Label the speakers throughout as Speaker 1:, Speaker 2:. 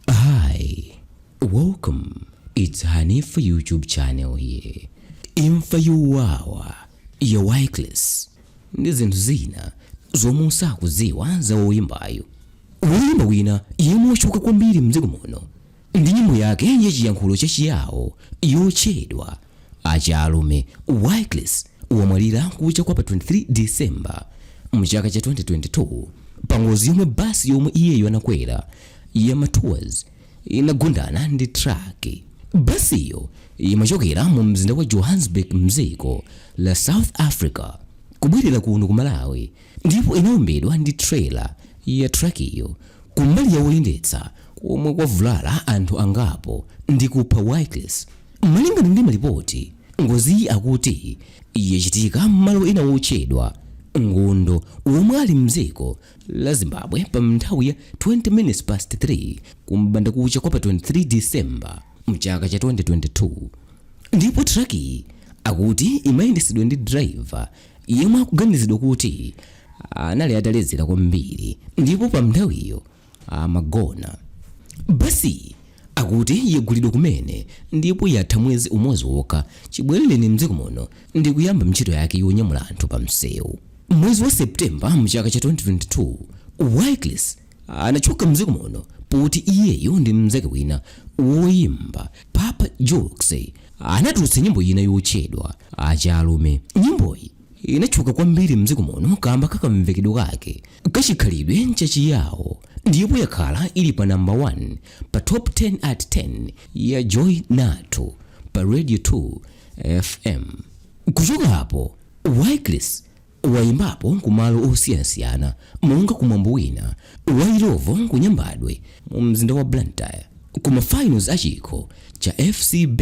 Speaker 1: Hi, welcome. It's Hanifa YouTube channel here. Imfa yowawa ya Walycris ndi zinthu zina zomwe usakudziwa za woyimbayo. Woyimba wina yemwe watchuka kwambiri mdziko muno ndi nyimbo yake yachiyankhulo cha Chiyawo yotchedwa Achalume, Walycris wamwalira kucha kwa pa 23 December mchaka cha 2022 pangozi yomwe basi yomwe iyeyo anakwera ya Matours inagundana ndi truck. Basiyo imachokera mu mzinda wa Johannesburg mdziko la South Africa kubwerera kuno ku Malawi ndipo inaombedwa ndi trailer ya truckiyo kumbali ya woyendetsa komwe kwavulala anthu angapo ndi kupha Walycris. Malingana ndi malipoti, ngoziyi akuti yachitika m'malo ena wotchedwa Ngundu womwe ali mdziko la Zimbabwe pa mnthawi ya 20 minutes past 3 ku m'bandakucha kwa pa 23 December mchaka cha 2022 ndipo truck-yi akuti imayendetsedwa ndi driver yemwe akuganizidwa kuti anali ataledzera kwambiri ndipo pa mnthawiyo amagona basiyi akuti yagulidwa kumene ndipo yatha mwezi umodzi wokha chibwerereni mdziko muno ndi kuyamba ntchito yake yonyamula anthu pa msewu mwezi wa septemba mchaka cha 2022 walycris anatchuka mdziko muno poti iyeyo ndi mnzake wina woyimba papa jokes anatulutsa nyimbo ina yotchedwa achalume nyimboyi inatchuka kwambiri mdziko muno kamba kakamvekedwe kake Kachikhalidwe cha Chiyawo ndipo yakhala ili pa number 1 pa top 10 at 10 ya Joy Nathu pa Radio 2 FM. Kuchoka hapo, Walycris wayimbapo ku malo osiyanasiyana monga ku mwambo wina wa Illovo ku Nyambadwe mu mzinda wa Blantyre ku mafinals a chikho cha FCB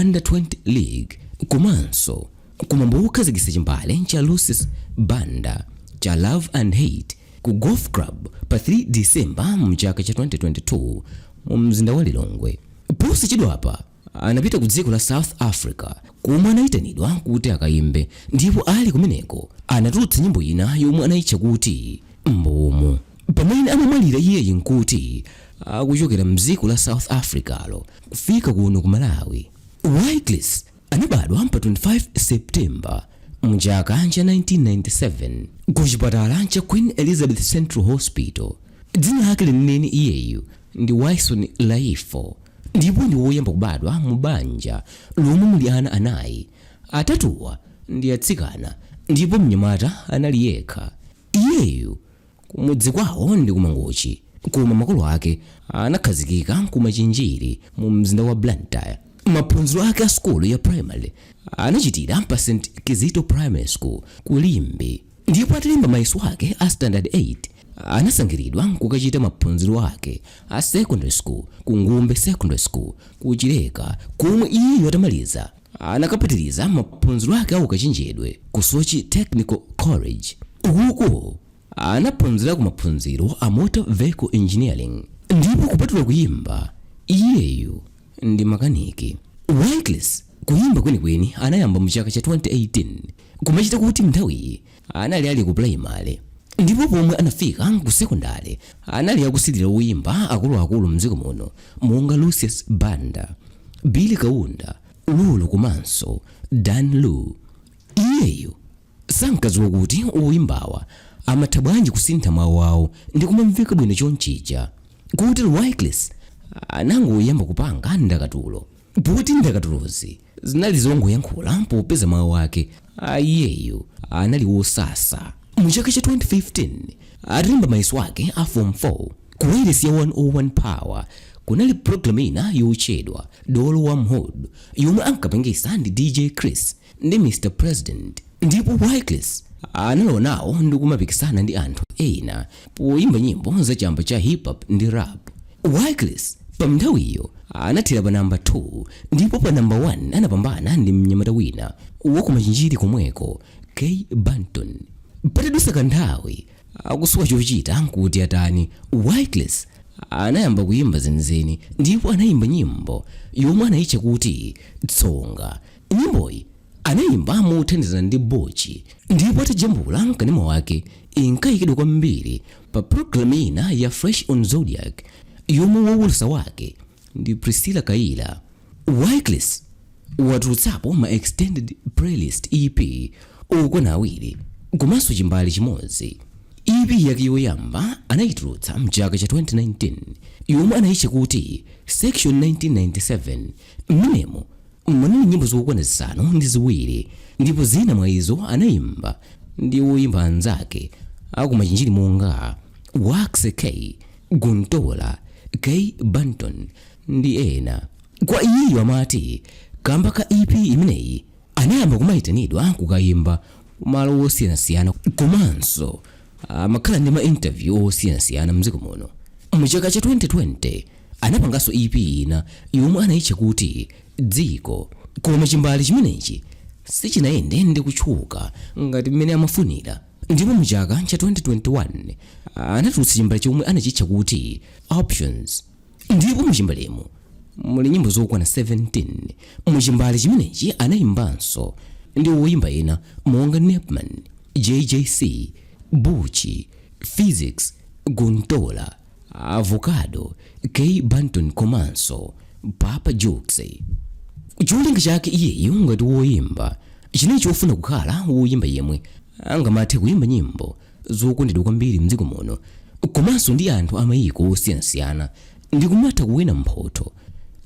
Speaker 1: Under 20 League komanso Kumwambo wokhazikitsa chimbale cha Lucius Banda cha Love and Hate ku Golf Club pa 3 December mchaka cha 2022 mu mzinda wa Lilongwe, posachedwapa anapita ku dziko la South Africa komwe anayitanidwa kuti akayimbe ndipo ali kumeneko anatulutsa nyimbo ina yomwe anayitcha kuti Mbuumu. Pamene amamwalira iyeyi nkuti akuchokera mdziko la South Africa-lo kufika kuno ku Malawi. Walycris Anabadwa pa 25 September mchaka cha 1997 ku chipatala cha Queen Elizabeth Central Hospital. Dzina lake lenileni iyeyu ndi Wyson Laifo ndipo ndi woyamba kubadwa mu banja lomwe muli ana anayi. Atatuwa ndi atsikana ndipo mnyamata anali yekha. Iyeyu Kumudzi kwawo ndi ku Mangochi koma makolo ake anakhazikika ku Machinjiri mu mzinda wa Blantyre. Maphunziro ake a sukulu ya primary anachitira pa St Kizito Primary School ku Limbe ndipo atalemba mayeso ake a standard 8 anasankhilidwa kukachita maphunziro ake a secondary school ku Ngumbe Secondary School ku Chileka komwe iyeyu atamaliza Anakapitiliza maphunziro ake aukachenjedwe ku Soche Technical College. Uku anaphunzirako maphunziro a Motor Vehicle Engineering ndipo kupatula kuyimba, iyeyu ndi makaniki. Walycris kuyimba kwenikweni anayamba mu chaka cha 2018 kumachita kuti mnthawiyi anali ali ku pulayimale ndipo pomwe anafika ku sekondale anali akusilira woyimba akuluakulu mdziko muno monga lucius banda billy kaunda lulu komanso dan lu iyeyu sankadziwa kuti woyimbawa amatha bwanji kusintha mawu awo ndi kumamveka bwino chonchija kotero walycris anangoyamba kupanga ndakatulo Poti ndakatulozi zinali zongoyankhula popeza mawu ake a iyeyu anali wosasa, mu chaka cha 2015 atalemba mayeso ake a form 4, ku wailesi ya 101 power kunali program ina yotchedwa Dolo Wa M'hood yomwe ankapangisa ndi DJ Chris. ndi Mr President ndipo Walycris analowa nawo ndi kumapikisana ndi anthu ena poyimba nyimbo za chamba cha hip hop ndi rap. Walycris pa mnthawiyo anathera pa namba 2 ndipo pa namba 1 anapambana ndi mnyamata wina wakumachinjiri komweko K Banton. Patadusa kanthawi akusowa chochita nkuti atani Walycris anayamba kuyimba zenizeni ndipo anayimba nyimbo yomwe anayitcha kuti tsonga Nyimboyi anaimba mothandizana ndi Butch ndipo atajambula m'kanema wake, inkaikidwa kwambiri pa pulogalamu ina ya Fresh on Zodiak yomwe woulutsa wake ndi Priscilla Kayira. Walycris watulutsapo ma Extended Playlist, EP, okwana awiri komanso chimbale chimodzi. EP yake yoyamba anaitulutsa m'chaka cha 2019 yomwe anaitcha kuti Section 1997. Mmenemo munali nyimbo zokwana zisanu ndi ziwiri, ndipo zina mwa izo anaimba ndi oimba anzake a ku Machinjiri monga Waxy K, Guntolah, K Banton ndi ena. Kwa iyeyu amati, Kamba ka EP imeneyi, Anayamba kumaitanidwa kukaimba malo osiyanasiyana komanso amakhala ndi ma interview osiyanasiyana mdziko muno. Mu chaka cha 2020 anapanganso EP ina yomwe anaitcha kuti Dziko koma chimbale chimenechi sichinayende ndi kutchuka ngati mmene amafunira ndipo mu chaka cha 2021 anatulutsa chimbale chomwe anachitcha kuti Options. ndipo muchimbalemu muli nyimbo zokwana 17 muchimbale chimenechi anayimbanso ndi woyimba ena monga nepman jjc bucci phyzix guntola avocado k banton komanso papa jukes cholinga chake iyeyo ngati woyimba chinali chofuna kukhala woyimba yemwe angamathe kuyimba nyimbo zokondedwa kwambiri m'dziko muno komanso ndi anthu a mayiko osiyanasiyana ndi kumatha kuwina mphotho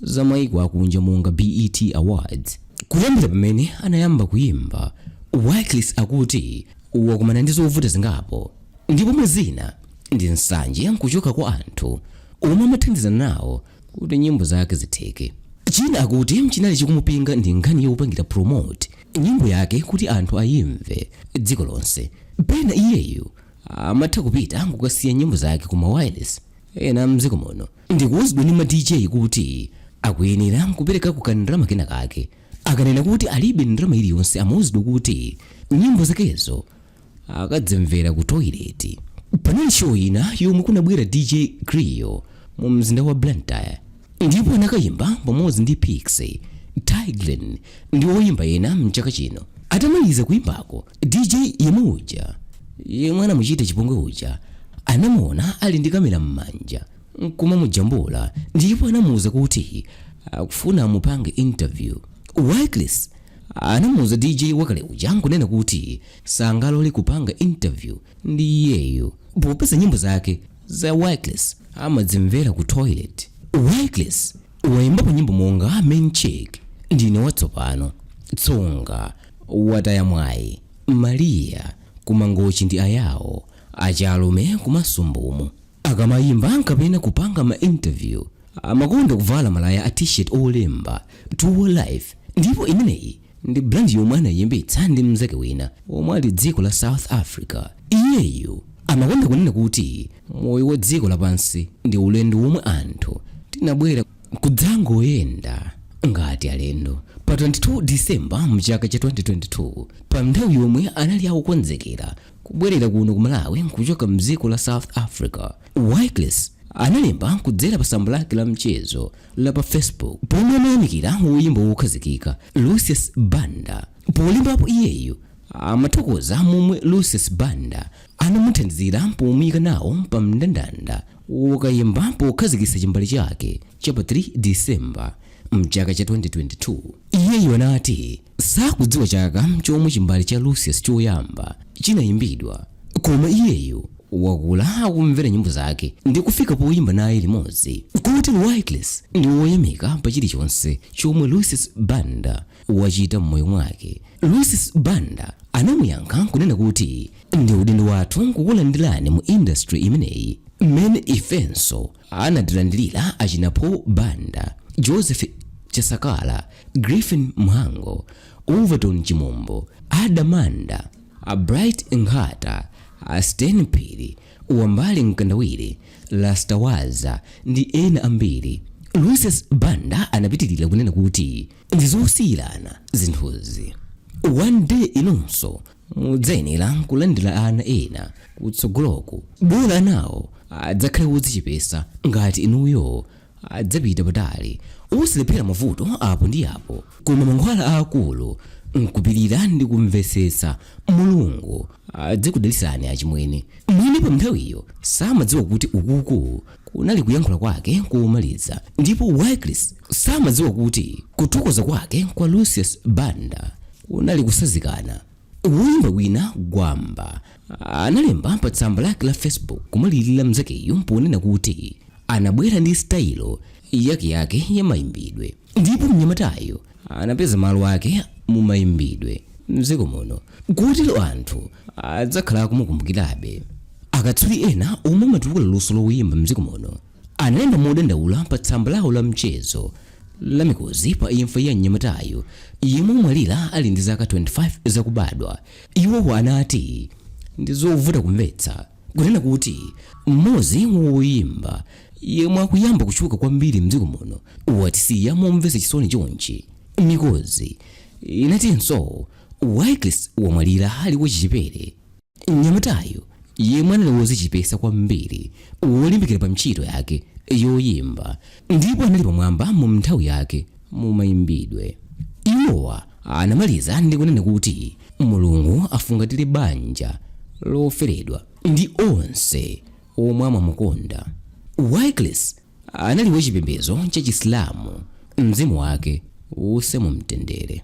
Speaker 1: za mayiko akunja monga BET Awards. Kuyambira pamene anayamba kuyimba, WalyCris akuti wakumana ndi zovuta zingapo ndipo mwa zina ndi nsanje kuchoka kwa anthu omwe amathandizana nawo kuti nyimbo zake zitheke. China akuti chinali chikumupinga ndi nkhani yopangira promote nyimbo yake kuti anthu ayimve dziko lonse. Pena iyeyo amatha kupita nkukasiya nyimbo zake ku ma wireless ena mdziko muno ndikuuzidwa ndi ma DJ kuti akuyenera kuperekako ka ndalama kena kake. Akanena kuti alibe ndalama iliyonse amauzidwa kuti nyimbo zakezo akadzimvera ku toilet. Panali show ina yomwe kunabwera DJ Cleo mu mzinda wa Blantyre ndipo anakayimba pamodzi ndi Piksy, Tay Grin ndi oyimba ena mchaka chino. Atamaliza kuyimbako, DJ yemwe uja yemwe anamuchita chipongwe uja anamuona ali ndi kamera m'manja kumamujambula ndipo anamuwuza kuti akufuna amupange interview. WalyCris Anamuuza DJ wakale uja nkunena kuti sangalole kupanga interview ndi iyeyo popeza nyimbo zake za WalyCris amadzimvera ku toilet. WalyCris waimbapo nyimbo monga Main Chick, Ndine Watsopano, Tsonga, Wataya Mwayi, Maria, Kumangochi ndi Ayao, Achalume komanso Mbumu. Akamayimba kapena kupanga ma interview, amakonda kuvala malaya a T-shirt olemba, Tour Life, ndipo imeneyi ndi brand yomwe anayiyambitsa ndi mnzake wina omwe ali dziko la South Africa. Iyeyo amakonda kunena kuti moyo wa dziko lapansi ndi ulendo womwe anthu tinabwera kudzangoyenda ngati alendo. Pa 22 December mchaka cha 2022, pa nthawi yomwe anali akukonzekera kubwerera kuno ku malawi nkuchoka mdziko la south africa walycris analemba kudzera pa tsamba lake la mchezo la pa facebook pomwe amayamikira woyimba wokhazikika lucius banda polembapo iyeyo amathokoza momwe lucius banda anamuthandizira pomuyika nawo pa mndandanda wokayimba pokhazikitsa chimbale chake cha pa 3 December mchaka cha 2022, iyeyo anati sakudziwa chaka chomwe chimbale cha Lucius choyamba chinayimbidwa koma iyeyo wakula akumvera nyimbo zake ndi kufika poyimba naye limodzi. Kotero Walycris ndi woyamika pa chilichonse chomwe Lucius Banda wachita m'moyo mwake. Lucius Banda anamuyankha nkunena kuti ndi udindo wathu kukulandirani mu industry imeneyi mmene ifenso anatilandirira achina Paul Banda, Joseph Chasakala, Griffin Mhango, Overton Chimombo, Ada Manda, a Bright Nkhata, a Stain Phiri, Wambali Mkandawire, Rasta Waza ndi ena ambiri. Lucius Banda anapitirira kunena kuti ndizosiyirana zinthuzi one day inunso mudzayenera kulandira ana ena kutsogoloku bola anawo adzakhale wodzichepesa ngati inuyo adzapita patali osalephera mavuto apo ndi apo koma mankhwala aakulu nkupirira ndi kumvetsetsa mulungu adzikudalisani achimwene mwini pa nthawiyo samadziwa kuti ukuku kunali kuyankhula kwake komaliza ndipo Walycris samadziwa kuti kuthokoza kwake kwa Lucius Banda kunali kusazikana. Woyimba wina Gwamba analemba pa tsamba lake la Facebook kumulirira mnzakeyo ponena kuti anabwera ndi sitayilo yakeyake ya mayimbidwe ndipo mnyamatayo anapeza malo ake mu mayimbidwe m'dziko muno kotero anthu adzakhala akumukumbukirabe. Akatswiri ena omwe amatukula luso loyimba m'dziko muno analemba modandaula pa tsamba lawo la mchezo la Mikozi pa imfa ya mnyamatayu yemwe wamwalira ali ndi zaka 25 zakubadwa. Iwowa anati, Ndi zovuta kumvetsa. Kunena kuti mmodzi wa oyimba yemwe akuyamba kutchuka kwambiri mdziko muno watisiya momvetsa chisoni chonchi, Mikozi inatinso Walycris wamwalira ali wachichepere. Mnyamatayu yemwe anali wozichepesa kwambiri wolimbikira pa ntchito yake yoyimba Ndipo anali pamwamba mu nthawi yake, mu mayimbidwe. Iwowa anamaliza ndi kunena kuti Mulungu afungatire banja loferedwa, ndi onse omwe amamukonda. Walycris anali wa chipembezo cha Chisilamu. Mzimu wake uuse mu mtendere.